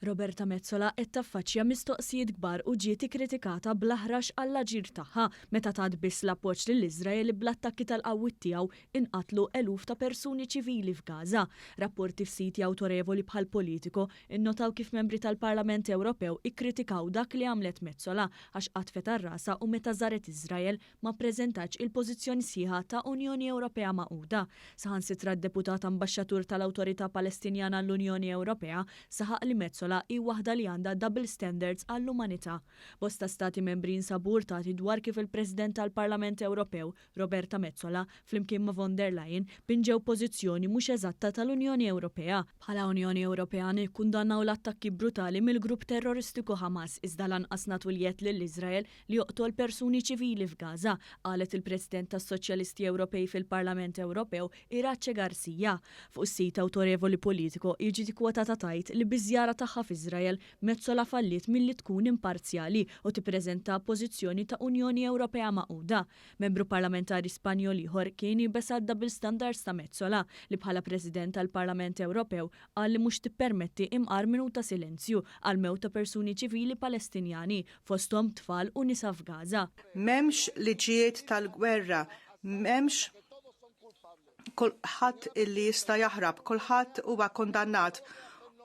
Roberta Metsola qed taffaċċja mistoqsijiet kbar u ġiet ikkritikata bl-aħrax għall-aġir tagħha meta tat biss l-appoġġ lill-Iżrael li bl-attakki tal-qawwiet tiegħu inqatlu eluf ta' persuni ċivili f'Gaza. Rapporti f'siti awtorevoli bħal Politico Innotaw kif Membri tal-Parlament Ewropew ikkritikaw dak li għamlet Metsola għax qatfet għal rasha u meta żaret Iżrael ma ppreżentatx il-pożizzjoni sħiħa ta' Unjoni Ewropea magħquda. Saħansitra d-Deputat Ambaxxatur tal-Awtorità Palestinjana għall-Unjoni Ewropea saħaq li Metsola hi waħda li għandha double standards għall-umanità. Bosta Stati Membri jinsabu urtati dwar kif il-President tal-Parlament Ewropew, Roberta Metsola, flimkien ma' von der Leyen, pinġew pożizzjoni mhux eżatta tal-Unjoni Ewropea. Bħala Unjoni Ewropea nikkundannaw l-attakki brutali mill-grupp terroristiku Hamas iżda lanqas nagħtu l-jedd lil Iżrael li joqtol persuni ċivili f'Gaza, qalet il-President tas-Soċjalisti Ewropej fil-Parlament Ewropew, Iratxe Garcia. Fuq is-sit awtorevoli Politico hi ġiet ikkwotata tgħid li biż-żjara tagħha f'Iżrael, Metsola falliet milli tkun imparzjali u tippreżenta pożizzjoni ta' Unjoni Ewropea magħquda. Membru Parlamentari Spanjol ieħor kien iebes għad-double standards ta' Metsola, li bħala President tal-Parlament Ewropew qal li mhux tippermetti imqar minut ta' silenzju għall-mewt ta' persuni ċivili Palestinjani, fosthom tfal u nisa f'Gaza. M'hemmx liġijiet tal-gwerra, m'hemmx. kulħadd illi jista' jaħrab, kulħadd huwa kondannat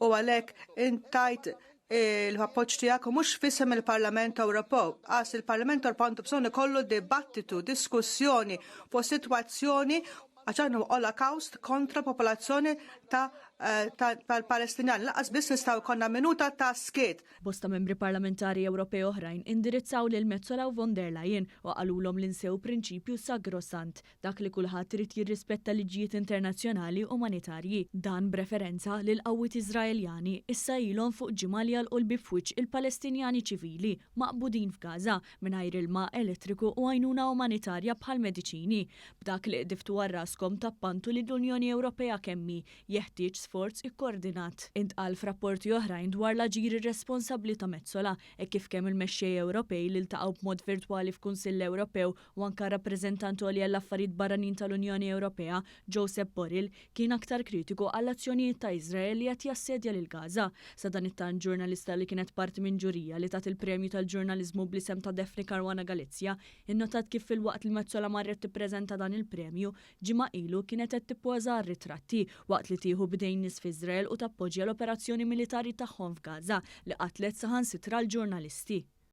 u għalhekk intajt eh, l-appoġġ tiegħek u mhux fisem il-Parlament Ewropew. Għas il-Parlament Ewropew għandu bżonn ikollu dibattitu, diskussjoni fuq sitwazzjoni għaxan u olokawst kontra popolazzjoni ta' eh, tal-Palestinjan. Laqas biss nistaw konna minuta ta' skiet. Bosta membri parlamentari Ewropej oħrajn indirizzaw lil Mezzola u von der Leyen u qalulhom l-insew prinċipju sagrosant Dak li kulħadd irid jirrispetta l-liġijiet internazzjonali umanitarji. Dan b'referenza li l-qawwiet Iżraeljani issa ilhom fuq ġimgħa li jagħlqu l-bieb f'wiċċ il-Palestinjani ċivili maqbudin f'Gaża mingħajr ilma, elettriku u għajnuna umanitarja bħall-mediċini. B'dak li qdiftu għal raskom tappantu lill-Unjoni Ewropea kemm hi, jeħtieġ sforz ikkoordinat. Intqal f'rapporti oħrajn dwar l-aġir irresponsabbli ta' Metsola hekk kif kemm il-mexxej Ewropej li ltaqgħu b'mod virtwali f'Kunsill Ewropew u anke r-Rappreżentant Għoli għall-Affarijiet Barranin tal-Unjoni Ewropea, Josep Borrell, kien aktar kritiku għall-azzjonijiet ta' Iżrael li qed jassedja lil Gaza. Sadanittant, ġurnalista li kienet parti minn ġurija li tat il-premju tal-ġurnaliżmu bl-isem ta' Daphne Caruana Galizia innotat kif filwaqt li Metsola marret tippreżenta dan il-premju ġimgħa ilu kienet qed tippoża għar-ritratti waqt li tieħu b'idejn nies f'Iżrael u tappoġġja l-operazzjoni militari tagħhom f'Gaza li qatlet saħansitra l-ġurnalisti.